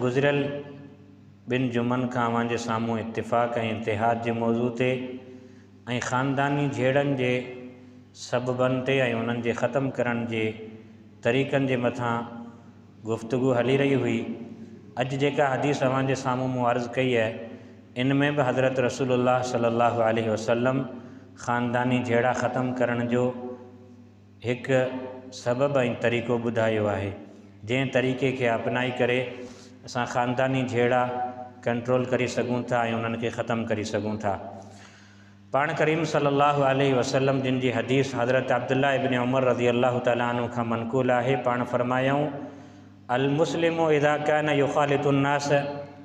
گذريل ٻن جمعن کان اوهان جي سامهون اتفاق ۽ اتحاد جي موضوع تي ۽ خانداني جهيڙن جي سببن تي ۽ انهن جي ختم ڪرڻ جي طريقن جي مٿان گفتگو هلي رهي هئي. اڄ جيڪا حديث اوهان جي سامهون مون عرض ڪئي اهي، ان ۾ به حضرت رسول الله صلي الله عليه وسلم خانداني جهيڙا ختم ڪرڻ جو هڪ سبب ۽ طريقو ٻڌايو آهي جنهن طريقي کي اپنائي ڪري اسان خانداني جهيڙا ڪنٽرول ڪري سگهون ٿا ۽ انهن کي ختم ڪري سگهون ٿا پاڻ ڪريم صلي الله عليه وسلم جن جي حديث حضرت عبدالله ابن عمر رضي الله تعالٰي عنه کان منقول آهي پاڻ فرمايائون المسلم اذا كان يخالط الناس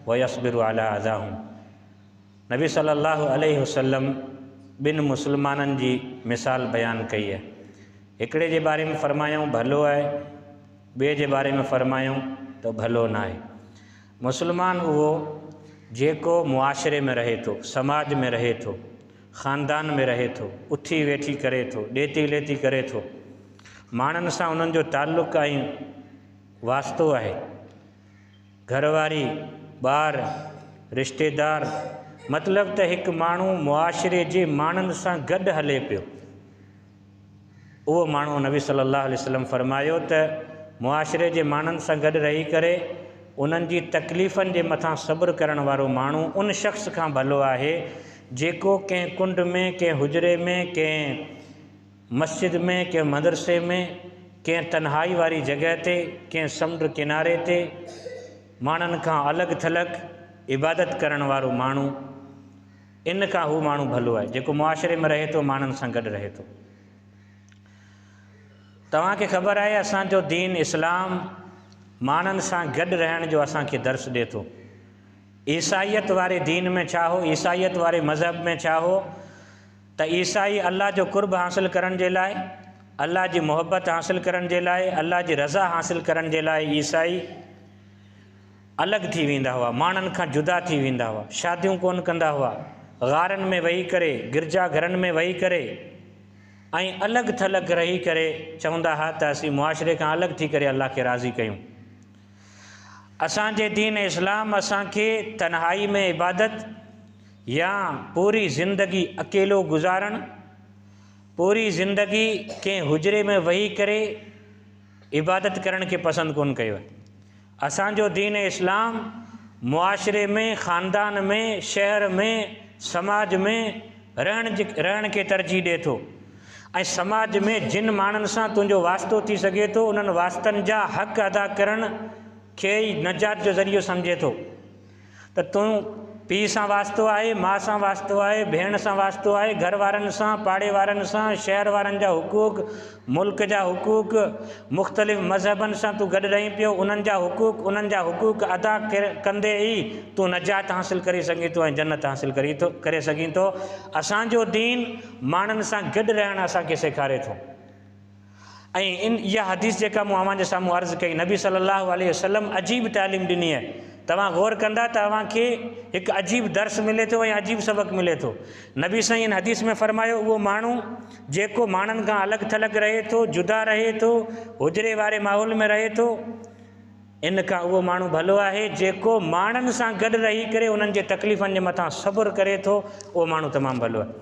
ويصبر علي اذاهم نبي صلّي اللّٰه عليه وسلّم ٻن مسلمانن جي مثال بيان ڪئي آهي. هڪڙي جي باري ۾ فرمايائون ڀلو آهي، ٻئي جي باري ۾ فرمايائون ته ڀلو ناهي. مسلمان اهو جيڪو معاشري ۾ رهي ٿو، سماج ۾ رهي ٿو، خاندان ۾ رهي ٿو، اٿي ويٺي ڪري ٿو، ڏيتي ليتي ڪري ٿو، ماڻهن سان انهن جو تعلق ۽ واسطو آهي. گهرواري، ٻار، رشتيدار مطلب ته هڪ ماڻهو معاشري جي ماڻهن سان گڏ هلي پيو اهو ماڻهو نبي صلي الله عليه وسلم فرمايو ته معاشري جي ماڻهن سان گڏ رهي ڪري انهن جي تڪليفن جي مٿان صبر ڪرڻ وارو ماڻهو ان شخص کان ڀلو آهي جيڪو ڪنهن ڪنڊ ۾ ڪنهن حجري ۾ ڪنهن مسجد ۾، ڪنهن مدرسي ۾، ڪنهن تنهائي واري جڳهه تي، ڪنهن سمنڊ ڪناري تي، ماڻهن کان الڳ ٿلڳ عبادت ڪرڻ وارو ماڻهو، ان کان هو ماڻهو ڀلو آهي، جيڪو معاشري ۾ رهي ٿو، ماڻهن سان گڏ رهي ٿو. توهان کي خبر آهي، اسان جو دين اسلام ماڻهن سان گڏ رهڻ جو اسان کي درس ڏي ٿو. عيسائيت واري دين ۾ ڇا هو، عيسائيت واري مذهب ۾ ڇا هو، ته عيسائي الله جو قرب حاصل ڪرڻ جي لاء، الله جي محبت حاصل ڪرڻ جي لاء، الله جي رضا حاصل ڪرڻ جي لاء عيسائي الڳ ٿي ويندا هئا، ماڻهن کان جدا ٿي ويندا هئا، شاديون ڪونه ڪندا هئا، غارن ۾ ويهي ڪري، گرجا گهرن ۾ ويهي ڪري ۽ الڳ ٿلڳ رهي ڪري چوندا ها ته اسين معاشري کان الڳ ٿي ڪري الله کي راضي ڪيون. اسان جي دين اسلام اسان کي تنهائي ۾ عبادت يا پوري زندگي اڪيلو گذارڻ، پوري زندگي ڪنهن حجري ۾ وهي ڪري عبادت ڪرڻ کي پسند ڪونه ڪيو آهي. اسان جو دين اسلام معاشري ۾، خاندان ۾، شهر ۾، سماج ۾، رهڻ کي ترجيح ڏئي ٿو ۽ سماج ۾ جن ماڻهن سان تنهنجو واسطو ٿي سگهي ٿو انهن واسطن جا حق ادا ڪرڻ کي ئي نجات جو ذريعو سمجهي ٿو ته تون پيء سان واسطو آهي ماء سان واسطو آهي ڀيڻ سان واسطو آهي گهر وارن سان پاڙي وارن سان شهر وارن جا حقوق ملڪ جا حقوق، مختلف مذهبن سان تون گڏ رهين پيو، انهن جا حقوق، انهن جا حقوق ادا ڪندي ئي تون نجات حاصل ڪري سگهين ٿو ۽ جنت حاصل ڪري سگهين ٿو. اسان جو دين ماڻهن سان گڏ رهڻ اسان کي سيکاري ٿو ۽ اها حديث جيڪا مون اوهان جي سامهون عرض ڪئي، نبي صلّي اللّٰه عليه وسلّم عجيب تعليم ڏني آهي. توهان غور ڪندا ته اوهان کي هڪ عجيب درس ملي ٿو ۽ عجيب سبق ملي ٿو. نبي سائين ان حديث ۾ فرمايو، اهو ماڻهو، جيڪو ماڻهن کان الڳ ٿلڳ رهي ٿو، جدا رهي ٿو، حجري واري ماحول ۾ رهي ٿو، ان کان اهو ماڻهو ڀلو آهي، جيڪو ماڻهن سان گڏ رهي ڪري انهن جي تڪليفن جي مٿان صبر ڪري ٿو، اهو ماڻهو تمام ڀلو آهي.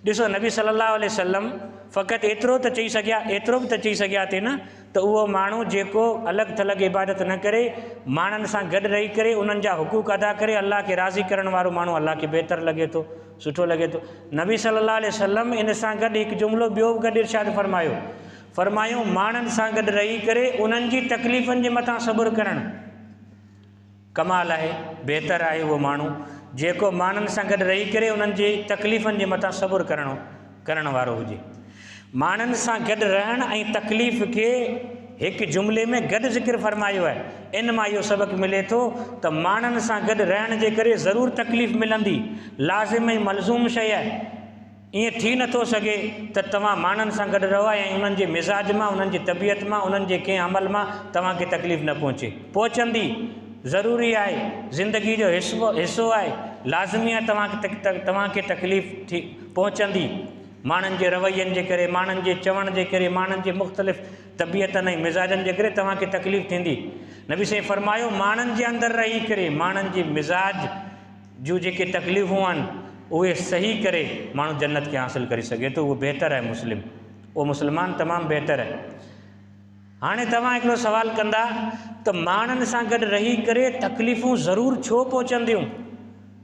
ڏسو نبي صلّي اللّٰه عليه وسلّم فقط ايترو ته چئي سگهيا، ايترو به ته چئي سگهيا ٿي نه ته اهو ماڻهو جيڪو الڳ ٿلڳ عبادت نه ڪري، ماڻهن سان گڏ رهي ڪري انهن جا حقوق ادا ڪري، الله کي راضي ڪرڻ وارو ماڻهو الله کي بهتر لڳي ٿو. سٺو لڳي ٿو. نبي صلي الله عليه وسلم ان سان گڏ هڪ جملو ٻيو به گڏ ارشاد فرمايو، فرمايو، ماڻهن سان گڏ رهي ڪري انهن جي تڪليفن جي مٿان صبر ڪرڻ ڪمال آهي، بهتر آهي اهو ماڻهو جيڪو ماڻهن سان گڏ رهي ڪري انهن جي تڪليفن جي مٿان صبر ڪرڻ ڪرڻ وارو هجي. ماڻهن سان گڏ رهڻ ۽ تڪليف کي هڪ جملي ۾ گڏ ذڪر فرمايو آهي. ان مان اهو سبق ملي ٿو ته ماڻهن سان گڏ رهڻ جي ڪري ضرور تڪليف ملندي، لازم ۽ ملزوم شيء آهي. ائين ٿي نه ٿو سگهي ته توهان ماڻهن سان گڏ رهو ۽ انهن جي مزاج مان، انهن جي طبيعت مان، انهن جي ڪنهن عمل مان توهان کي تڪليف نه پهچي. پهچندي، ضروري آهي، زندگي جو حصو آهي، لازمي آهي توهان کي تڪليف ٿي. پهچندي، ماڻهن جي روين جي ڪري، ماڻهن جي چوڻ جي ڪري، ماڻهن جي مختلف طبيعتن ۽ مزاجن جي ڪري توهان کي تڪليف ٿيندي. نبي سائين فرمايو، ماڻهن جي اندر رهي ڪري، ماڻهن جي مزاج جون جيڪي تڪليفون آهن، اهي سهي ڪري ماڻهو جنت کي حاصل ڪري سگهي ٿو، اهو بهتر آهي مسلم، اهو مسلمان تمام بهتر آهي. هاڻي توهان هڪڙو سوال ڪندا ته ماڻهن سان گڏ رهي ڪري تڪليفون ضرور ڇو پهچنديون؟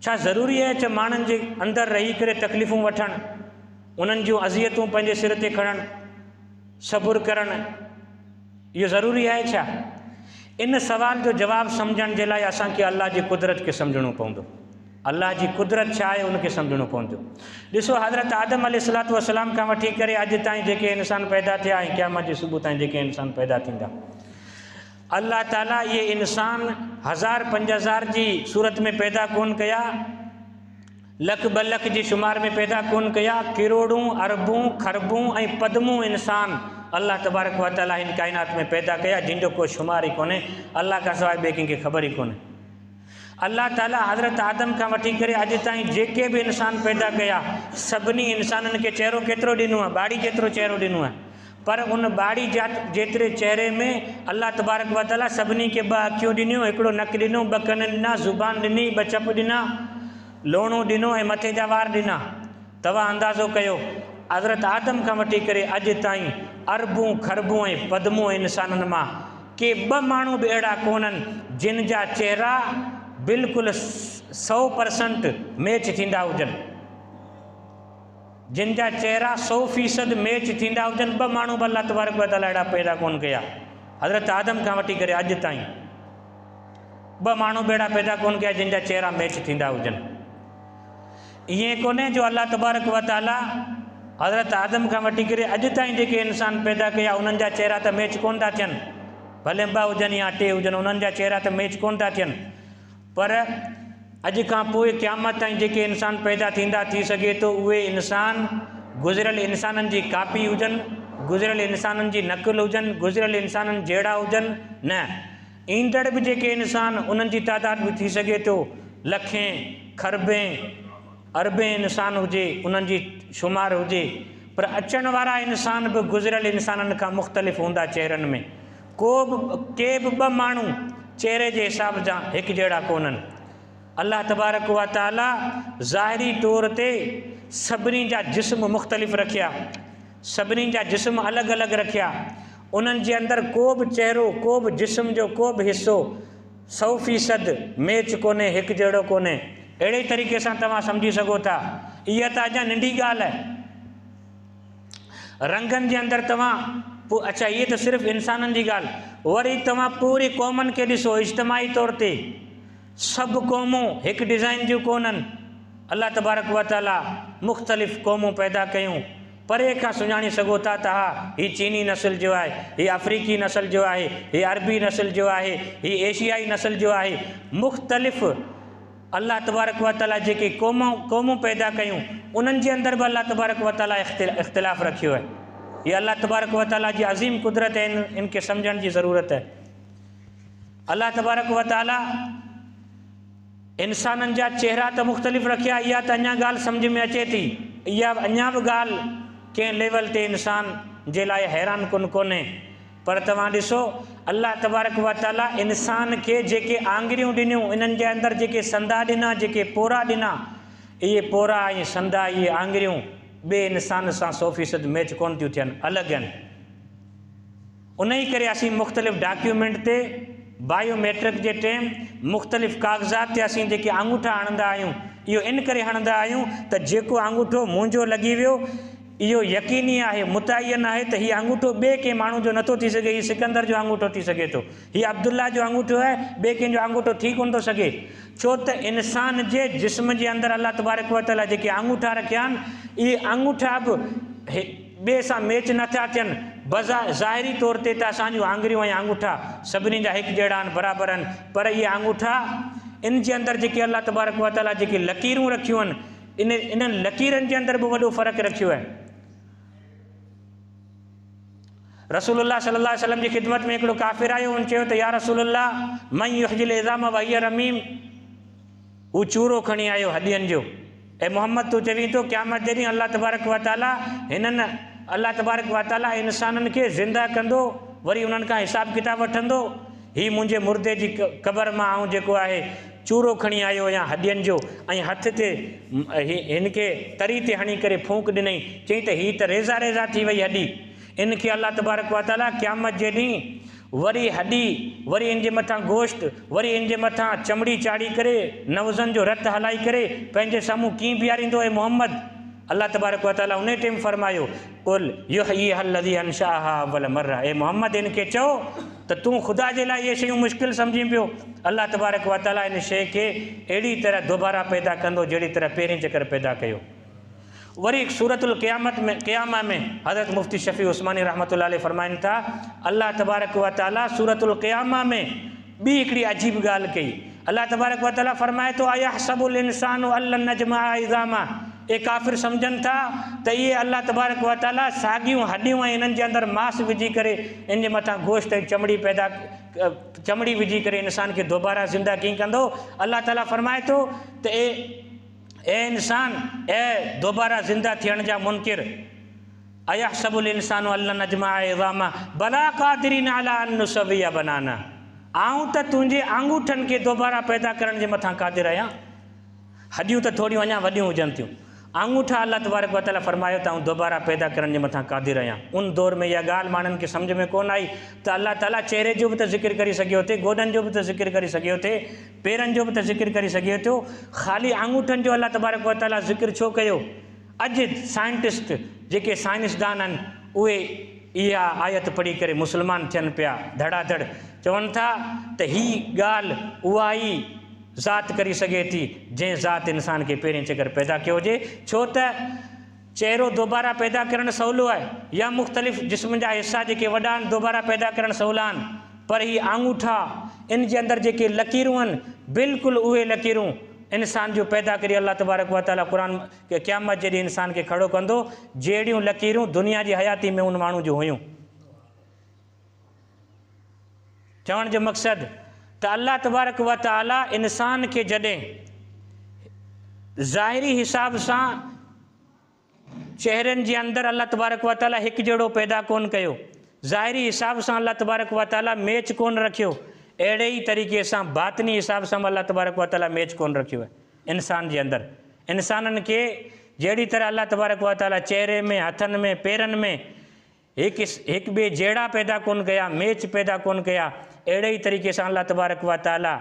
ڇا ضروري آهي ته ماڻهن جي اندر رهي ڪري تڪليفون وٺڻ، انهن جون اذيتون پنهنجي سر تي کڻڻ، صبر ڪرڻ اهو ضروري آهي ڇا؟ ان سوال جو جواب سمجهڻ جي لاء اسان کي الله جي قدرت کي سمجهڻو پوندو. الله جي قدرت ڇا آهي ان کي سمجهڻو پوندو. ڏسو حضرت آدم عليه الصلوة والسلام کان وٺي ڪري اڄ تائين جيڪي انسان پيدا ٿيا ۽ قيامت جي صبح تائين جيڪي انسان پيدا ٿيندا الله تعالي اهي انسان هزار پنج هزار جي صورت ۾ پيدا ڪون ڪيا لک ٻه لک جي شمار ۾ پيدا ڪون ڪيا ڪروڙون اربون خربون ۽ پدمون انسان الله تبارڪ و تعالي هن ڪائنات ۾ پيدا ڪيا جن جو ڪو شمار ئي ڪونهي الله کان سواء ٻئي ڪنهن کي خبر ئي ڪونهي الله تعاليٰ حضرت آدم کان وٺي ڪري اڄ تائين جيڪي به انسان پيدا ڪيا سڀني انسانن کي چهرو ڪيترو ڏنو آهي ٻاڙي جيترو چهرو ڏنو آهي پر ان ٻاڙي جيتري چهري ۾ الله تبارڪ و تعاليٰ سڀني کي ٻه اکيون ڏنيون هڪڙو نڪ ڏنو ٻه ڪن ڏنا زبان ڏني ٻه چپ ڏنا لوڻو ڏنو ۽ مٿي جا وار ڏنا توهان اندازو ڪيو حضرت آدم کان وٺي ڪري اڄ تائين اربون خربون ۽ پدمون انسانن مان ڪي ٻه ماڻهو به اهڙا ڪونهن جن جا چهرا بلڪل سؤ پرسنٽ ميچ ٿيندا هجن جن جا چهرا سؤ فيصد ميچ ٿيندا هجن ٻه ماڻهو به الله تبارڪ و تعاليٰ اهڙا پيدا ڪونهن ڪيا حضرت آدم کان وٺي ڪري اڄ تائين ٻه ماڻهو به اهڙا پيدا ڪونهن ڪيا جن جا چهرا ميچ ٿيندا هجن ائين ڪونهي جو الله تبارڪ و تعاليٰ حضرت آدم کان وٺي ڪري اڄ تائين جيڪي انسان پيدا ڪيا انهن جا چهرا ته ميچ ڪونه ٿا ٿين ڀلي ٻه هجن يا ٽي هجن انهن جا چهرا ته ميچ ڪونه ٿا ٿين پر اڄ کان پوء قيامت تائين جيڪي انسان پيدا ٿيندا ٿي سگهي ٿو اهي انسان گذريل انسانن جي ڪاپي هجن گذريل انسانن جي نقل هجن گذريل انسانن جهڙا هجن نه ايندڙ به جيڪي انسان انهن جي تعداد به ٿي سگهي ٿو لکين، کربين، اربين انسان هجي انهن جي شمار هجي پر اچڻ وارا انسان به گذريل انسانن کان مختلف هوندا چهرن ۾ ڪو به ڪي به ٻه ماڻهو چهري جي حساب سان هڪ جهڙا ڪونهن الله تبارڪ و تعالي ظاهري طور تي سڀني جا جسم مختلف رکيا سڀني جا جسم الڳ الڳ رکيا انهن جي اندر ڪو به چهرو، ڪو به جسم جو ڪو به حصو سؤ فيصد ميچ ڪونهي، هڪ جهڙو ڪونهي. اهڙي ئي طريقي سان توهان سمجهي سگهو ٿا. اها ته اڃا ننڍي ڳالهه آهي. رنگن جي اندر توهان پو اڇا هيء ته صرف انسانن جي ڳالهه. وري توهان پوري قومن کي ڏسو، اجتماعي طور تي سڀ قومون هڪ ڊزائين جون ڪونهن. الله تبارڪ وتعاليٰ مختلف قومون پيدا ڪيون. پري کان سڃاڻي سگهو ٿا ته ها هي چيني نسل جو آهي، هي آفريڪي نسل جو آهي، هي عربي نسل جو آهي، هي ايشيائي نسل جو آهي. مختلف الله تبارڪ و تعاليٰ جيڪي قومون قومون پيدا ڪيون انهن جي اندر به الله تبارڪ و تعاليٰ اختلاف رکيو آهي. هي الله تبارڪ و تعاليٰ جي عظيم قدرت آهي ان ان کي سمجهڻ جي ضرورت آهي. الله تبارڪ و تعاليٰ. انسانن جا چهرا ته مختلف رکيا اها ته اڃا ڳالهه سمجهه ۾ اچي ٿي. اها اڃا به ڳالهه ڪنهن ليول تي انسان جي لاء حيران ڪن ڪونهي. پر توهان ڏسو الله تبارڪ و تعاليٰ انسان کي جيڪي آڱريون ڏنيون انهن جي اندر جيڪي سندا ڏنا جيڪي پورا ڏنا اهي پورا ۽ سندا اهي آڱريون ٻئي انسان سان سو فيصد ميچ ڪونه ٿيون ٿين الڳ اهن. انهيء ڪري اسين مختلف ڊاڪيومينٽ تي بايو ميٽرڪ جي ٽيم مختلف ڪاغذات تي اسين جيڪي آڱوٺا هڻندا آهيون اهو ان ڪري هڻندا آهيون ته جيڪو آڱوٺو منهنجو لڳي ويو اهو يقيني آهي متعين آهي ته هي آڱوٺو ٻئي ڪنهن ماڻهو جو نٿو ٿي سگهي هي سڪندر جو آڱوٺو ٿي سگهي ٿو هي عبدالله جو آڱوٺو آهي ٻئي ڪنهن جو آڱوٺو ٿي ڪونه ٿو سگهي ڇو ته انسان جي جسم جي اندر الله تبارڪ وتعاليٰ جيڪي آڱوٺا رکيا آهن اهي آڱوٺا به ٻئي سان ميچ نه ٿا ٿين، بظا ظاهري طور تي ته اسان جون آڱريون ۽ آڱوٺا سڀني جا هڪ جهڙا آهن، برابر آهن، پر اهي آڱوٺا، ان جي اندر جيڪي الله تبارڪ و تعاليٰ جيڪي لڪيرون رکيون آهن، انهن لڪيرن جي اندر به وڏو فرق رکيو آهي. رسول الله صلي الله عليه وسلم جي خدمت ۾ هڪڙو ڪافر آيو، هن چيو ته يا رسول الله من يحيي العظام وهي رميم؟ هو چورو کڻي آيو هڏين جو. اي محمد تون چوين ٿو قيامت جي ڏينهن الله تبارڪ و تعاليٰ هنن، الله تبارڪ و تعاليٰ، انسانن کي زنده ڪندو وري انهن کان حساب ڪتاب وٺندو؟ هي منهنجي مردي جي قبر مان آئون جيڪو آهي چورو کڻي آيو هيان هڏين جو ۽ هٿ تي هن کي تري تي هڻي ڪري ڦونڪ ڏنئين چيائين ته هي ته ريزا ريزا ٿي وئي هڏي ان کي الله تبارڪ و تعاليٰ قيامت جي ڏينهن وري هڏي، وري ان جي مٿان گوشت، وري ان جي مٿان چمڙي چاڙهي ڪري، نوزن جو رت هلائي ڪري، پنهنجي سامهون ڪيئن بيهاريندو اي محمد؟ الله تبارڪ و تعاليٰ انهيء ٽيم فرمايو، قل يحييها الذي انشاها اول مرة اي محمد ان کي چئو ته تون خدا جي لاء اهي شيون مشڪل سمجهين پيو، الله تبارڪ و تعاليٰ ان شيء کي اهڙي طرح دوباره پيدا ڪندو جهڙي طرح پهرين چڪر پيدا ڪيو. وري سورة القيامة ۾ حضرت مفتي شفيع عثماني رحمة الله عليه فرمائن ٿا، الله تبارڪ و تعالي سورة القيامة ۾ ٻي هڪڙي عجيب ڳالهه ڪئي. الله تبارڪ و تعالي فرمائي ٿو، ايحسب الانسان ان لن نجمع عظامه، اهي ڪافر سمجهن ٿا ته اهي الله تبارڪ و تعالي ساڳيون هڏيون ۽ انهن جي اندر ماس وجهي ڪري ان جي مٿان گوشت ۽ چمڙي پيدا چمڙي وجهي ڪري انسان کي دوباره زنده ڪين ڪندو. الله تعالي فرمائي ٿو ته اي. اي انسان! اي دوباره زنده ٿيڻ جا منڪر! ايحسب الانسان ان لن نجمع عظامه بلا قادرين علي ان نسوي بنانه آئون ته تنهنجي آڱوٺن کي دوباره پيدا ڪرڻ جي مٿان قادر آهيان. هڏيون ته ٿوريون اڃا وڏيون هجن ٿيون. آڱوٺا الله تبارڪ و تعاليٰ فرمايو ته آئون دوباره پيدا ڪرڻ جي مٿان قادر آهيان. ان دور ۾ اها ڳالهه ماڻهن کي سمجهه ۾ ڪونه آئي ته الله تعاليٰ چهري جو به ته ذڪر ڪري سگهيو ٿي، گوڏن جو به ته ذڪر ڪري سگهيو ٿي، پيرن جو به ته ذڪر ڪري سگهي ٿو، خالي آڱوٺن جو الله تبارڪ و تعاليٰ ذڪر ڇو ڪيو؟ اڄ سائنٽسٽ جيڪي سائنسدان آهن اهي اها آيت پڙهي ڪري مسلمان ٿين پيا، ڌڙا ڌڙ چون ٿا ته هي ڳالهه اها ئي ذات ڪري سگهي ٿي جنهن ذات انسان کي پهرين چڪر پيدا ڪيو هجي ڇو ته چهرو دوباره پيدا ڪرڻ سولو آهي يا مختلف جسم جا حصا جيڪي وڏا آهن دوباره پيدا ڪرڻ سولا آهن پر هي آڱوٺا ان جي اندر جيڪي لڪيرون آهن بلڪل اهي لڪيرون انسان جون پيدا ڪري الله تبارڪ وتعالي قرآن قيامت جي ڏينهن انسان کي کڙو ڪندو جهڙيون لڪيرون دنيا جي حياتي ۾ ان ماڻهو جون هيون. چوڻ جو مقصد ته الله تبارڪ و تعالي انسان کي جڏهن ظاهري حساب سان چهرن جي اندر الله تبارڪ و تعالي هڪ جهڙو پيدا ڪون ڪيو ظاهري حساب سان الله تبارڪ و تعالي ميچ ڪون رکيو اهڙي ئي طريقي سان باطني حساب سان به الله تبارڪ و تعالي ميچ ڪون رکيو آهي انسان جي اندر انسانن کي جهڙي طرح الله تبارڪ و تعالي چهري ۾ هٿن ۾ پيرن ۾ هڪ هڪ ٻئي جهڙا پيدا ڪونه ڪيا، ميچ پيدا ڪونه ڪيا، اهڙي ئي طريقي سان الله تبارڪ و تعاليٰ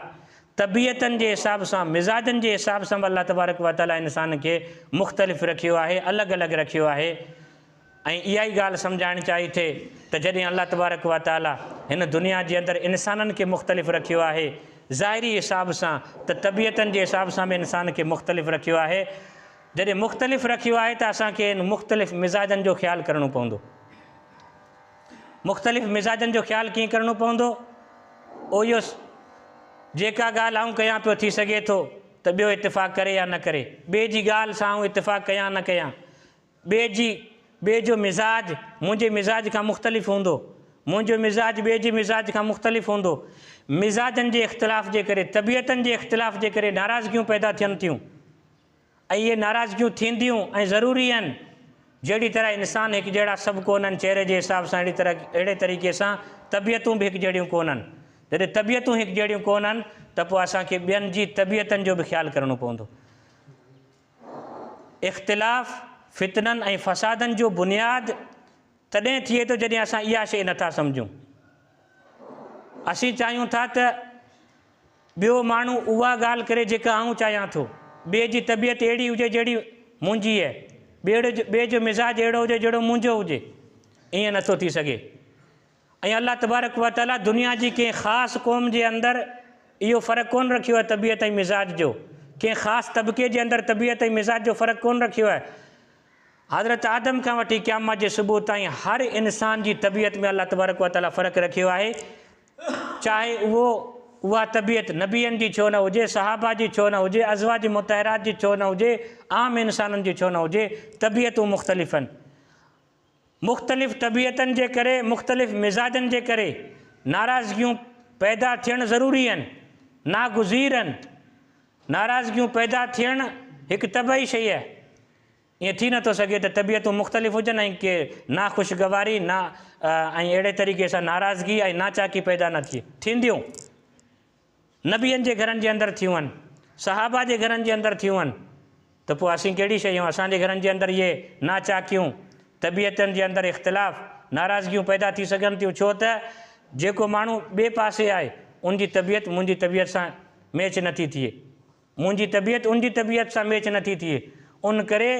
طبيعتن جي حساب سان، مزاجن جي حساب سان به الله تبارڪ و تعاليٰ انسان کي مختلف رکيو آهي، الڳ الڳ رکيو آهي ۽ اها ئي ڳالهه سمجهائڻ چاهي ٿي ته جڏهن الله تبارڪ و تعاليٰ هن دنيا جي اندر انسانن کي مختلف رکيو آهي ظاهري حساب سان ته طبيعتن جي حساب سان به انسان کي مختلف رکيو آهي، جڏهن مختلف رکيو آهي ته اسان کي ان مختلف مزاجن جو خيال ڪرڻو پوندو. مختلف مزاجن جو خيال ڪيئن ڪرڻو پوندو؟ اويس، جيڪا ڳالهه آئون ڪيان پيو ٿي سگهي ٿو ته ٻيو اتفاق ڪري يا نه ڪري. ٻئي جي ڳالهه سان آئون اتفاق ڪيان نه ڪيان، ٻئي جي ٻئي جو مزاج منهنجي مزاج کان مختلف هوندو، منهنجو مزاج ٻئي جي مزاج کان مختلف هوندو. مزاجن جي اختلاف جي ڪري، طبيعتن جي اختلاف جي ڪري ناراضگيون پيدا ٿين ٿيون. اهي ناراضگيون ٿينديون ۽ ضروري آهن، جهڙي طرح انسان هڪجهڙا سڀ ڪونهن، چهري جي حساب سان اهڙي طرح اهڙي طريقي سان طبيعتون به هڪجهڙيون ڪونهن. جڏهن طبيعتون هڪجهڙيون ڪونهن ته پوء اسان کي ٻين جي طبيعتن جو به خيال ڪرڻو پوندو. اختلاف فتنن ۽ فسادن جو بنياد تڏهن ٿئي ٿو جڏهن اسان اها شيء نٿا سمجهون. اسين چاهيون ٿا ته. ٻيو ماڻهو اها ڳالهه ڪري جيڪا آئون چاهيان ٿو. ٻئي جي طبيعت اهڙي هجي جهڙي منهنجي اهي. ٻئي جو مزاج اهڙو هجي جهڙو منهنجو هجي. ائين نٿو ٿي سگهي. ۽ الله تبارڪ و تعاليٰ دنيا جي ڪنهن خاص قوم جي اندر اهو فرق ڪونه رکيو آهي طبيعت ۽ مزاج جو. ڪنهن خاص طبقي جي اندر طبيعت ۽ مزاج جو فرق ڪونه رکيو آهي. حضرت آدم کان وٺي قيامت جي صبح تائين هر انسان جي طبيعت ۾ الله تبارڪ و تعاليٰ فرق رکيو آهي. چاهي اهو، اها طبيعت، نبين جي ڇو نه هجي، صحابه جي ڇو نه هجي، ازواج مطهرات جي ڇو نه هجي، عام انسانن جي ڇو نه هجي، طبيعتون مختلف آهن. مختلف طبيعتن جي ڪري، مختلف مزاجن جي ڪري ناراضگيون پيدا ٿيڻ ضروري آهن، ناگزير آهن. ناراضگيون پيدا ٿيڻ هڪ طبعي شيء آهي. ائين ٿي نٿو سگهي ته طبيعتون مختلف هجن ۽ ڪي ناخوشگواري نا۽ اهڙي طريقي سان ناراضگي ۽ ناچاڪي پيدا نه ٿئي. ٿينديون نبين جي گهرن جي اندر ٿيون، صحابه جي گهرن جي اندر ٿيون ته پوء اسين ڪهڙي شيء آهيون؟ اسان جي گهرن جي اندر اهي ناچاڪيون، طبيعتن جي اندر اختلاف، ناراضگيون پيدا ٿي سگهن ٿيون ڇو ته جيڪو ماڻهو ٻئي پاسي آهي ان جي طبيعت منهنجي طبيعت سان ميچ نٿي ٿئي. منهنجي طبيعت ان جي طبيعت سان ميچ نه ٿي ٿئي، ان ڪري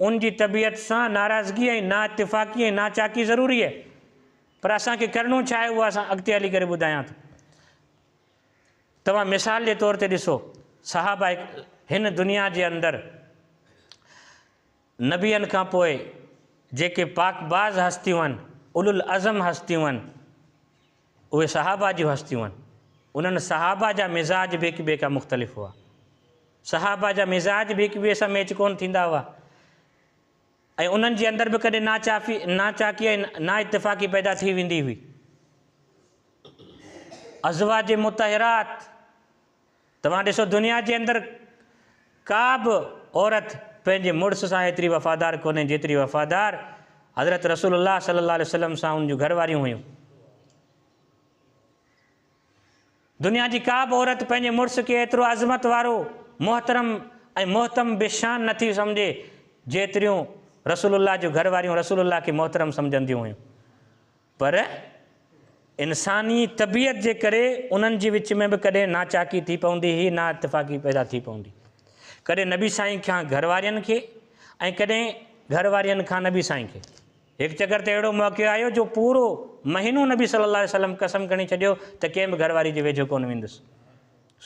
ان جي طبيعت سان ناراضگي ۽ نااتفاقي ۽ ناچاڪي ضروري آهي. پر اسان کي ڪرڻو ڇا آهي اهو اسان اڳتي هلي ڪري ٻڌايان ٿو. توهان مثال جي طور تي ڏسو صحابه هن دنيا جي اندر نبين کان پوء جيڪي پاڪباز هستيون آهن، اولوالعزم هستيون آهن، اهي صحابه جون هستيون هن. انهن صحابه جا مزاج به هڪ ٻئي کان مختلف هئا. صحابه جا مزاج به هڪ ٻئي سان ميچ ڪونه ٿيندا هئا ۽ انهن جي اندر به ڪڏهن ناچافي، ناچاڪي ۽ نااتفاقي پيدا ٿي ويندي هئي. ازواج مطهرات توهان ڏسو دنيا جي اندر ڪا به عورت پنهنجي مڙس سان ايتري وفادار ڪونهي جيتري وفادار حضرت رسول الله صلي الله عليه وسلم سان ان جون گهر واريون هيون. دنيا جي ڪا به عورت پنهنجي مڙس کي ايترو عظمت وارو، محترم ۽ محتم به شان نه ٿي سمجهي جيتريون رسول الله جون گهر واريون رسول الله کي محترم سمجهنديون هيون. پر انساني طبيعت جي ڪري انهن جي وچ ۾ به ڪڏهن ناچاڪي ٿي پوندي هئي، نااتفاقي پيدا ٿي پوندي هئي. ڪڏهن نبي سائين کان گهر وارين کي ۽ ڪڏهن گهر وارين کان نبي سائين کي. هڪ چڪر ته اهڙو موقعو آيو جو پورو مهينو نبي صلي الله عليه وسلم قسم کڻي ڇڏيو ته ڪنهن به گهر واري جي ويجهو ڪونه ويندس.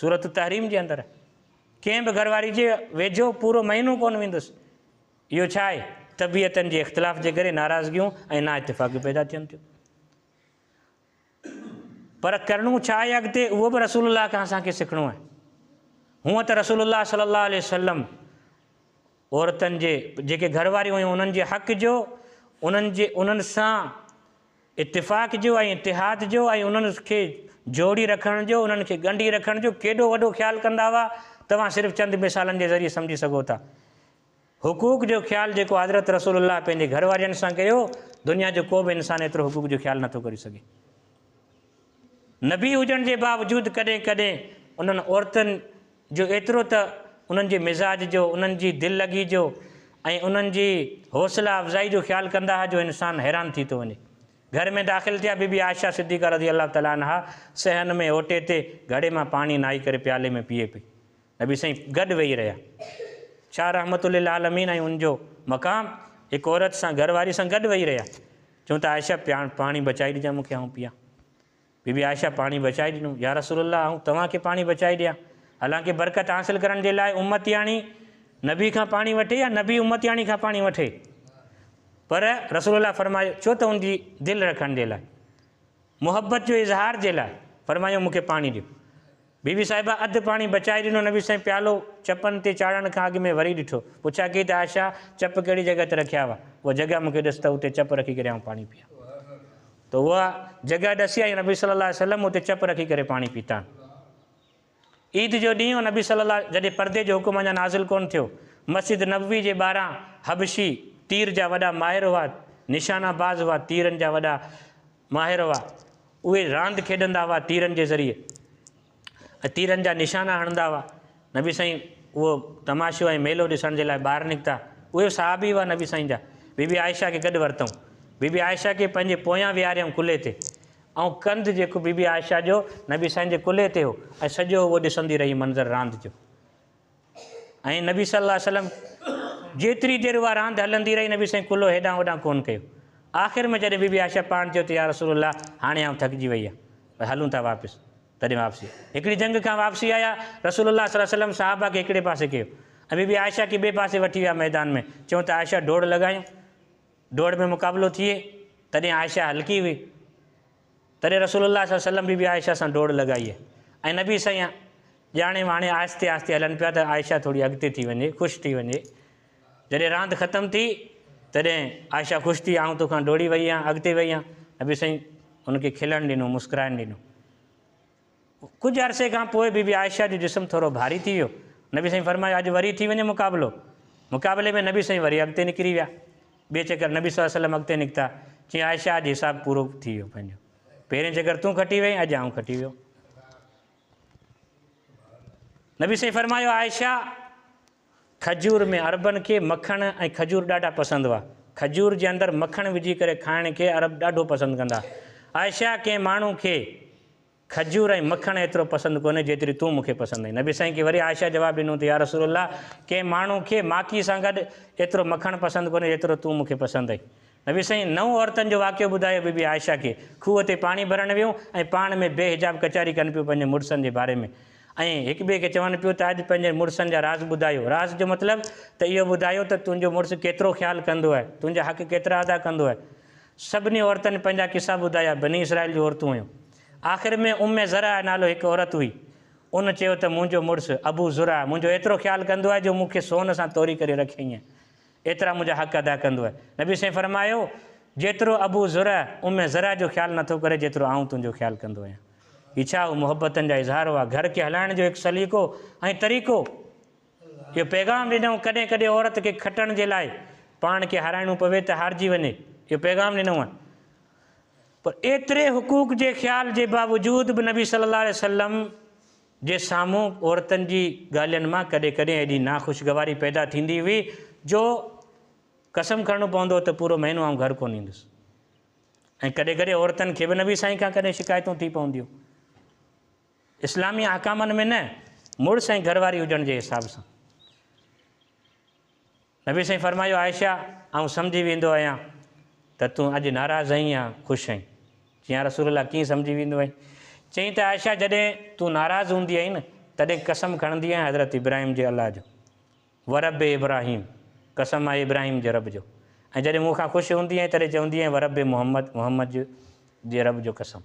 سورة التحريم جي اندر ڪنهن به گهر واري جي ويجهو پورو مهينو ڪونه ويندس. اهو ڇا آهي؟ طبيعتن جي اختلاف جي ڪري ناراضگيون ۽ نااتفاقيون پيدا ٿين ٿيون. پر ڪرڻو ڇا آهي اڳتي اهو به رسول الله کان اسان کي سکڻو آهي. هونئن ته رسول الله صلي الله عليه وسلم عورتن جي جيڪي گهر واريون هيون انهن جي حق جو انهن جي انهن سان اتفاق جو ۽ اتحاد جو ۽ انهن کي جوڙي رکڻ جو انهن کي ڳنڍي رکڻ جو ڪيڏو وڏو خيال ڪندا هئا توهان صرف چند مثالن جي ذريعي سمجهي سگهو ٿا. حقوق جو خيال جيڪو حضرت رسول الله پنهنجي گهر وارين سان ڪيو، دنيا جو ڪو به انسان ايترو حقوق جو خيال نٿو ڪري سگهي. نبي هجڻ جي باوجود ڪڏهن ڪڏهن انهن عورتن جو ايترو ته انهن جي مزاج جو، انهن جي دل لڳي جو ۽ انهن جي حوصلا افزائي جو خيال ڪندا ها جو انسان حيران ٿي ٿو وڃي. گهر ۾ داخل ٿيا بيبي عائشه صديقه رضي الله تعالٰي عنها صحن ۾ اوٽي تي گهڙي مان پاڻي نهائي ڪري پيالي ۾ پيئي پئي. نبي سائين گڏ ويهي رهيا. ڇا رحمت للعالمين ۽ ان جو مقام هڪ عورت سان گهر واري سان گڏ ويهي رهيا. چون ته عائشه پياڻ پاڻي بچائي ڏجان مون کي آئون پيان. بي بي عائشه پاڻي بچائي ڏنو. يا رسول الله آئون توهان کي پاڻي بچائي ڏيان. حالانڪه برڪت حاصل ڪرڻ جي لاء امتياڻي نبي کان پاڻي وٺي يا نبي امتياڻي کان پاڻي وٺي پر رسول الله فرمايو ڇو ته ان جي دل رکڻ جي لاء محبت جو اظهار جي لاء فرمايو مون کي پاڻي ڏيو. بي بي صاحبه اڌ پاڻي بچائي ڏنو، نبي سائين پيالو چپن تي چاڙهڻ کان اڳ ۾ وري ڏٺو، پڇا ڪئي ته عائشه چپ ڪهڙي جڳهه تي رکيا هئا، اها جڳهه مون کي ڏس ته اتي چپ رکي ڪري آئون پاڻي پيان ته اها جڳهه ڏسي ۽ نبي صلي الله عليه وسلم اتي چپ رکي ڪري پاڻي پيتان. عيد جو ڏينهن هو، نبي صلي الله عليه جڏهن پردي جو حڪم اڃا نازل ڪونه ٿيو، مسجد نبوي جي ٻاهران حبشي تير جا وڏا ماهر هئا، نشانه باز هئا، تيرن جا وڏا. ماهر هئا، اهي راند کيڏندا هئا تيرن جي ذريعي ۽ تيرن جا نشانا هڻندا هئا، نبي سائين اهو تماشو ۽ ميلو ڏسڻ جي لاء ٻاهر نڪتا، اهي به صحابي هئا نبي سائين جا، بي بي عائشه کي گڏ ورتئون، بي بي عائشه کي پنهنجي پويان ويهاريائون ڪلهي تي ۽ ڪنڌ جيڪو بي بي عائشه جو نبي سائين جي ڪلهي تي هو ۽ سڄو اهو ڏسندي رهي منظر راند جو. ائين نبي صلي الله عليه وسلم جيتري دير اها راند هلندي رهي نبي سائين ڪلهو هيڏانهن هوڏانهن ڪونه ڪيو. آخر ۾ جڏهن بي بي عائشه پاڻ چيو ته يا رسول الله هاڻي آئون ٿڪجي وئي آهيان پر هلون ٿا واپس تڏهن واپسي هڪڙي جنگ کان واپسي آيا رسول الله صلي الله عليه وسلم صحابه کي هڪڙي پاسي ڪيو ۽ بي بي عائشه کي ٻئي پاسي وٺي ويا ميدان ۾ چيون ته عائشه ڊوڙ لڳايون ڊوڙ ۾ مقابلو ٿئي تڏهن عائشه هلڪي هئي. تڏهن رسول الله صلي الله عليه وسلم بي بي عائشه سان ڊوڙ لڳائي ۽ نبي سائين ڄاڻي واڻي آهستي آهستي هلن پيا ته عائشه ٿوري اڳتي ٿي وڃي خوش ٿي وڃي جڏهن راند ختم ٿي تڏهن عائشه خوش ٿي آئون توکان ڊوڙي وئي آهيان اڳتي وئي آهيان نبي سائين هن کي کلڻ ڏنو مسڪرائڻ ڏنو. ڪجهه عرصي کان پوء بي بي عائشه جو جسم ٿورو ڀاري ٿي ويو. نبي سائين فرمايو اڄ وري ٿي وڃي مقابلو. مقابلي ۾ نبي سائين وري اڳتي نڪري ويا. ٻئي چڪر نبي صلي الله عليه وسلم اڳتي نڪتا. چيائين عائشه اڄ حساب پورو ٿي ويو پنهنجو. پهرين چڪر تون کٽي وئين اڄ آئون کٽي ويو. نبي سائين فرمايو عائشه! کجور ۾ عربن کي مکڻ ۽ کجور ڏاڍا پسند هئا. کجور جي اندر مکڻ وجهي ڪري کائڻ کي عرب ڏاڍو پسند ڪندا هئا. عائشه ڪنهن ماڻهو کي کجور ۽ مکڻ ايترو پسند ڪونهي جيتري تون مون کي پسند آهين. نبي سائين کي وري عائشه جواب ڏنو ته يارسول الله ڪنهن ماڻهو کي ماکي سان گڏ ايترو مکڻ پسند ڪونهي جيترو تون مون کي پسند آهين. نبي سائين نو عورتن جو واقعو ٻڌايو بي بي عائشه کي کوهه تي پاڻي ڀرڻ ويون ۽ پاڻ ۾ بي حجاب ڪچهري ڪن پيون پنهنجي مڙسن جي باري ۾ ۽ هڪ ٻئي کي چون پيون ته اڄ پنهنجي مڙسن جا راز ٻڌايو راز جو مطلب ته اهو ٻڌايو ته تنهنجو مڙس ڪيترو خيال ڪندو آهي تنهنجا حق ڪيترا ادا ڪندو آهي سڀني عورتن پنهنجا قصا ٻڌايا بني اسرائيل جون عورتون هيون آخر ۾ ام زرع نالو هڪ عورت هئي ان چيو ته منهنجو مڙس ابو زرع منهنجو ايترو خيال ڪندو آهي جو مون کي سون سان توري ڪري رکيائين ايترا منهنجا حق ادا ڪندوء. نبي صلعم فرمايو، جيترو ابو زرع ام زرع جو خيال نٿو ڪري جيترو آئون تنهنجو خيال ڪندو آهيان. هي ڇا اهو محبتن جا اظهار هئا؟ گهر کي هلائڻ جو هڪ سليقو ۽ طريقو. اهو پيغام ڏنائون ڪڏهن ڪڏهن عورت کي کٽڻ جي لاء پاڻ کي هارائڻو پوي ته هارجي وڃي اهو پيغام ڏنائون. پر ايتري حقوق جي خيال جي باوجود به نبي صلي الله عليه وسلم، جي سامهون عورتن جي ڳالهين مان ڪڏهن ڪڏهن ايڏي ناخوشگواري پيدا ٿيندي هئي جو قسم کڻڻو پوندو هو ته پورو مهينو آئون گهر ڪونه ايندس ۽ ڪڏهن ڪڏهن عورتن کي به نبي سائين کان ڪڏهن شڪايتون ٿي پونديون اسلامي احڪامن ۾ نه مڙس ۽ گهر واري هجڻ جي حساب سان نبي سائين فرمايو عائشه! آئون سمجهي ويندو آهيان ته تون اڄ ناراض آهين يا خوش آهين؟ چيائين يا رسول الله ڪيئن سمجهي ويندو آهين؟ چيائين ته عائشه جڏهن تون ناراض هوندي آهين نه تڏهن قسم کڻندي آهين حضرت ابراهيم جي الله جو ورب ابراهيم قسم آهي ابراهيم جي رب جو ۽ جڏهن مون کان خوش هوندي آهين تڏهن چوندي آهين ورب محمد محمد جي رب جو قسم.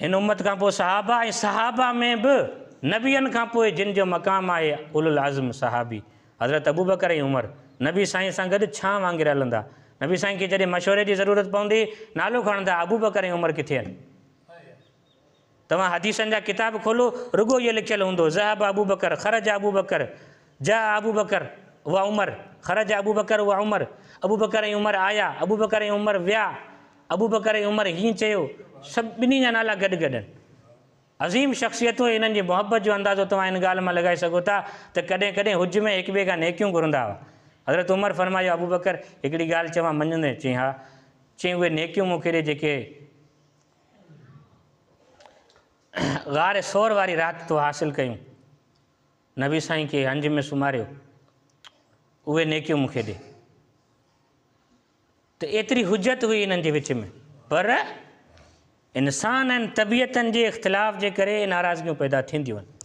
هن امت کان پوء صحابه ۽ صحابه ۾ به نبين کان پوء جن جو مقام آهي اولوالعزم صحابي حضرت ابوبڪر ۽ عمر نبي سائين سان گڏ ڇانهه وانگر هلندا نبي سائين کي جڏهن مشوري جي ضرورت پوندي نالو کڻندا ابوبڪر ۽ عمر ڪٿي آهن؟ توهان حديثن جا ڪتاب کولو رڳو اهو لکيل هوندو ذهب ابو بڪر خرج ابو بڪر جاء ابو بڪر و عمر خرج ابو بڪر و عمر ابو بڪر ۽ عمر آيا ابو بڪر ۽ عمر ويا ابو بڪر ۽ عمر هيئن چيو سڀ ٻنهي جا نالا گڏ گڏ آهن عظيم شخصيتون ۽ انهن جي محبت جو اندازو توهان ان ڳالهه مان لڳائي سگهو ٿا ته ڪڏهن ڪڏهن حج ۾ هڪ ٻئي کان نيڪيون گهرندا هئا حضرت عمر فرمايو ابو بڪر هڪڙي ڳالهه چوان مڃندين چيائين ها چيائين اهي نيڪيون مون کي ڏي جيڪي غار ثور واري رات تو حاصل ڪيون نبي سائين کي هنج ۾ سمهاريو اهي نيڪيون مون کي ڏي ته ايتري حجت هئي انهن جي وچ ۾ پر انسان ۽ طبيعتن جي اختلاف جي ڪري ناراضگيون پيدا ٿينديون آهن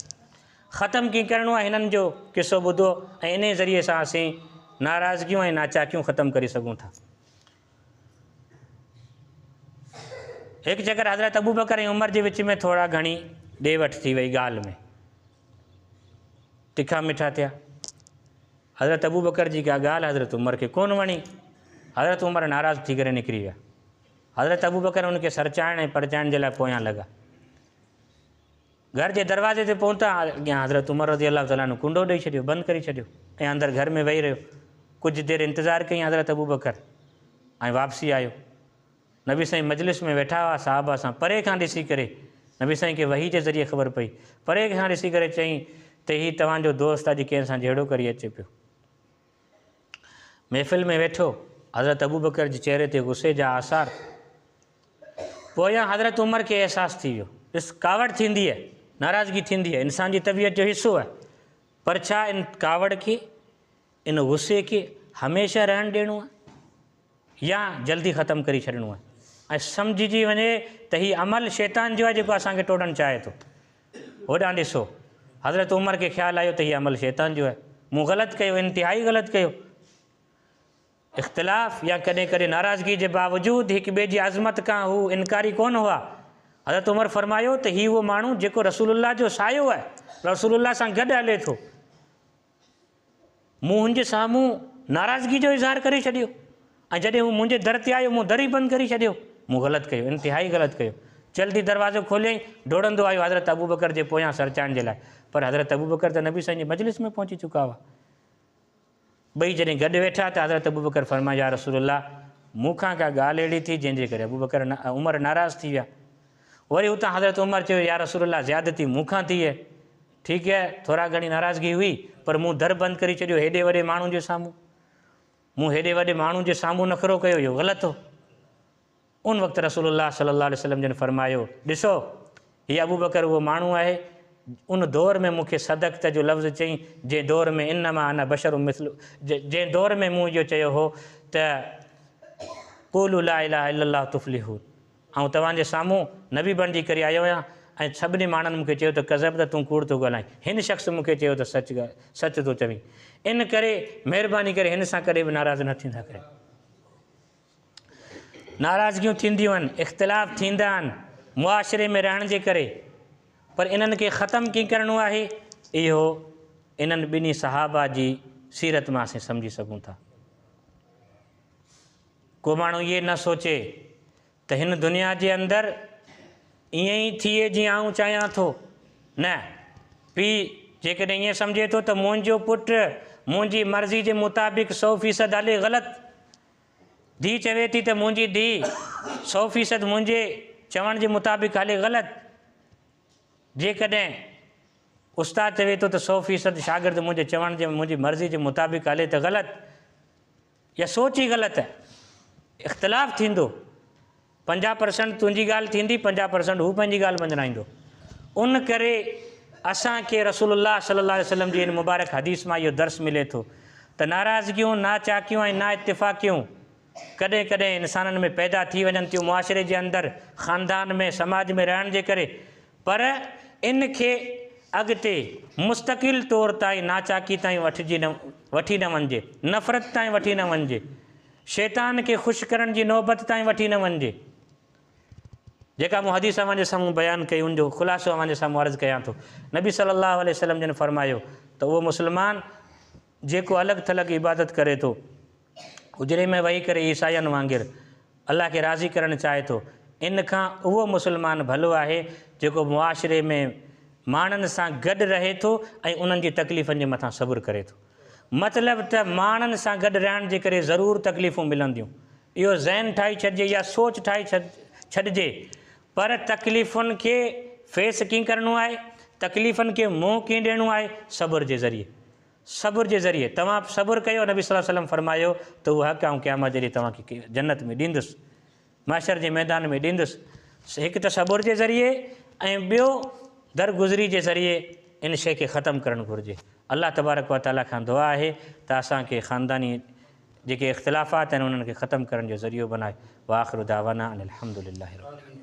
ختم ڪيئن ڪرڻو آهي هنن جو قصو ٻڌو ۽ انهي ذريعي سان اسين ناراضگيون ۽ ناچاڪيون ختم ڪري سگهون ٿا هڪ چڪر حضرت ابوبڪر ۽ عمر جي وچ ۾ ٿورا گهڻي ڏي وٺ ٿي وئي ڳالهه ۾ تکا مٺا ٿيا حضرت ابوبڪر جي ڪا ڳالهه حضرت عمر کي ڪون وڻي حضرت عمر ناراض ٿي ڪري نڪري ويا حضرت ابوبڪر ان کي سرچائڻ ۽ پرچائڻ جي لاء پويان لڳا گهر جي دروازي تي پهتان اڳيان حضرت عمر رضي الله تعالٰي عنه ڪنڊو ڏئي ڇڏيو، بند ڪري ڇڏيو ۽ اندر گهر ۾ ويهي رهيو. ڪجهه دير انتظار ڪيائين حضرت ابوبڪر ۽ واپسي آيو. نبي سائين مجلس ۾ ويٺا هئا، صحابه سان پري کان ڏسي ڪري نبي سائين کي وحي جي ذريعي خبر پئي، پري کان ڏسي ڪري چيائين ته هي توهان جو دوست اڄ ڪنهن سان جهيڙو ڪري اچي پيو. محفل ۾ ويٺو حضرت ابوبڪر جي چهري تي غصي جا آثار پويان حضرت عمر کي احساس ٿي ويو. ڏس، ڪاوڙ ٿيندي آهي، ناراضگي ٿيندي آهي، انسان جي طبيعت جو حصو آهي، پر ڇا ان ڪاوڙ کي، ان غصي کي هميشه رهڻ ڏيڻو آهي يا جلدي ختم ڪري ڇڏڻو آهي؟ ۽ سمجهجي وڃي ته هي عمل شيطان جو آهي جيڪو اسان کي ٽوڙڻ چاهي ٿو. هوڏانهن ڏسو، حضرت عمر کي خيال آيو ته هي عمل شيطان جو آهي، مون غلط ڪيو، انتهائي غلط ڪيو. اختلاف يا ڪڏهن ڪڏهن ناراضگي جي باوجود هڪ ٻئي جي عظمت کان هو انڪاري ڪونه هئا. حضرت عمر فرمايو ته هي اهو ماڻهو جيڪو رسول الله جو سايو آهي، رسول الله سان گڏ هلي ٿو. مون هن جي سامهون ناراضگي جو اظهار ڪري ڇڏيو ۽ جڏهن هو منهنجي در تي آيو مون در ئي بند ڪري ڇڏيو. مون غلط ڪيو، انتهائي غلط ڪيو. جلد ئي دروازو کوليائين، ڊوڙندو آيو حضرت ابوبڪر جي پويان سرچائڻ جي لاء، پر حضرت ابوبڪر ته نبي سائين جي مجلس ۾ پهچي چڪا هئا. ٻئي جڏهن گڏ ويٺا ته حضرت ابوبڪر فرمايو يا رسول الله مون کان ڪا ڳالهه اهڙي ٿي جنهن جي ڪري ابوبڪر عمر ناراض ٿي ويا وري اتان حضرت عمر چيو يا رسول الله زيادتي مون کان ٿي اهي ٺيڪ اهي ٿورا گهڻي ناراضگي هئي پر مون در بند ڪري ڇڏيو هيڏي وڏي ماڻهو جي سامهون مون هيڏي وڏي ماڻهو جي سامهون نخرو ڪيو اهو غلط هو. ان وقت رسول الله صلي الله عليه وسلم جن فرمايو، ڏسو! هي ابوبڪر اهو ماڻهو آهي، ان دور ۾ مون کي صدقت جو لفظ چئي، جنهن دور ۾ انما انا بشر مثل جنهن دور ۾ مون اهو چيو هو ته قولوا لا اله الا الله تفلحوا آئون توهان جي سامهون نبي بڻجي ڪري آيو آهيان ۽ سڀني ماڻهن مون کي چيو ته ڪذبت تون ڪوڙ ٿو ڳالهائين هن شخص مون کي چيو ته سچ سچ ٿو چوين ان ڪري مهرباني ڪري هن سان ڪڏهن به ناراض نه ٿيندا ڪريو. ناراضگيون ٿينديون آهن، اختلاف ٿيندا آهن معاشري ۾ رهڻ جي ڪري پر انهن کي ختم ڪئين ڪرڻو آهي اهو انهن ٻنهي صحابه جي سيرت مان اسين سمجهي سگهون ٿا. ڪو ماڻهو اهي نه سوچي ته هن دنيا جي اندر ائين ئي ٿئي جيئن آئون چاهيان ٿو، نه پيء جيڪڏهن ائين سمجهي ٿو ته منهنجو پٽ منهنجي مرضي جي مطابق سؤ فيصد هلي غلط ڌيء چوي ٿي ته منهنجي ڌيء سؤ فيصد منهنجي چوڻ جي مطابق هلي غلط جيڪڏهن استاد چوي ٿو ته سؤ فيصد شاگرد منهنجي چوڻ جي منهنجي مرضي جي مطابق هلي ته غلط يا سوچ ئي غلط اختلاف ٿيندو. پنجاهه پرسنٽ تنهنجي ڳالهه ٿيندي، پنجاهه پرسنٽ هو پنهنجي ڳالهه مڃرائيندو. ان ڪري اسان کي رسول الله صلي الله عليه وسلم جي ان مبارڪ حديث مان اهو درس ملي ٿو ته ناراضگيون، ناچاڪيون ۽ نااتفاقيون ڪڏهن ڪڏهن انسانن ۾ پيدا ٿي وڃن ٿيون معاشري جي اندر، خاندان ۾، سماج ۾ رهڻ جي ڪري پر ان کي اڳتي مستقل طور تائين ناچاڪي تائين وٺجي نه وٺي نه وڃجي، نفرت تائين وٺي نه وڃجي. شيطان کي خوش ڪرڻ جي نوبت تائين وٺي نه وڃجي. جيڪا مون حديث اوهان جي سامهون بيان ڪئي ان جو خلاصو اوهان جي سامهون عرض ڪيان ٿو. نبي صلّي اللّٰه عليه وسلّم جن فرمايو ته اهو مسلمان جيڪو الڳ ٿلڳ عبادت ڪري ٿو، حجري ۾ ويهي ڪري عيسائين وانگر الله کي راضي ڪرڻ چاهي ٿو، ان کان اهو مسلمان ڀلو آهي جيڪو معاشري ۾ ماڻهن سان گڏ رهي ٿو ۽ انهن جي تڪليفن جي مٿان صبر ڪري ٿو. مطلب ته ماڻهن سان گڏ رهڻ جي ڪري ضرور تڪليفون ملنديون، اهو ذهن ٺاهي ڇڏجي يا سوچ ٺاهي ڇڏجي پر تڪليفن کي فيس ڪيئن ڪرڻو آهي، تڪليفن کي منهن ڪيئن ڏيڻو آهي، صبر جي ذريعي، صبر جي ذريعي، توهان صبر ڪيو، نبي صلي الله عليه وسلم فرمايو ته اهو حق آئون قيامت جي ڏينهن توهان کي جنت ۾ ڏيندس. محشر جي ميدان ۾ ڏيندس، سو هڪ تصبر جي ذريعي ۽ ٻيو درگذري جي ذريعي ان شيء کي ختم ڪرڻ گهرجي. الله تبارڪ و تعاليٰ کان دعا آهي ته اسان کي خانداني جيڪي اختلافات آهن انهن کي ختم ڪرڻ جو ذريعو بنائي. واخر دعوانا ان الحمد لله رب العالمين.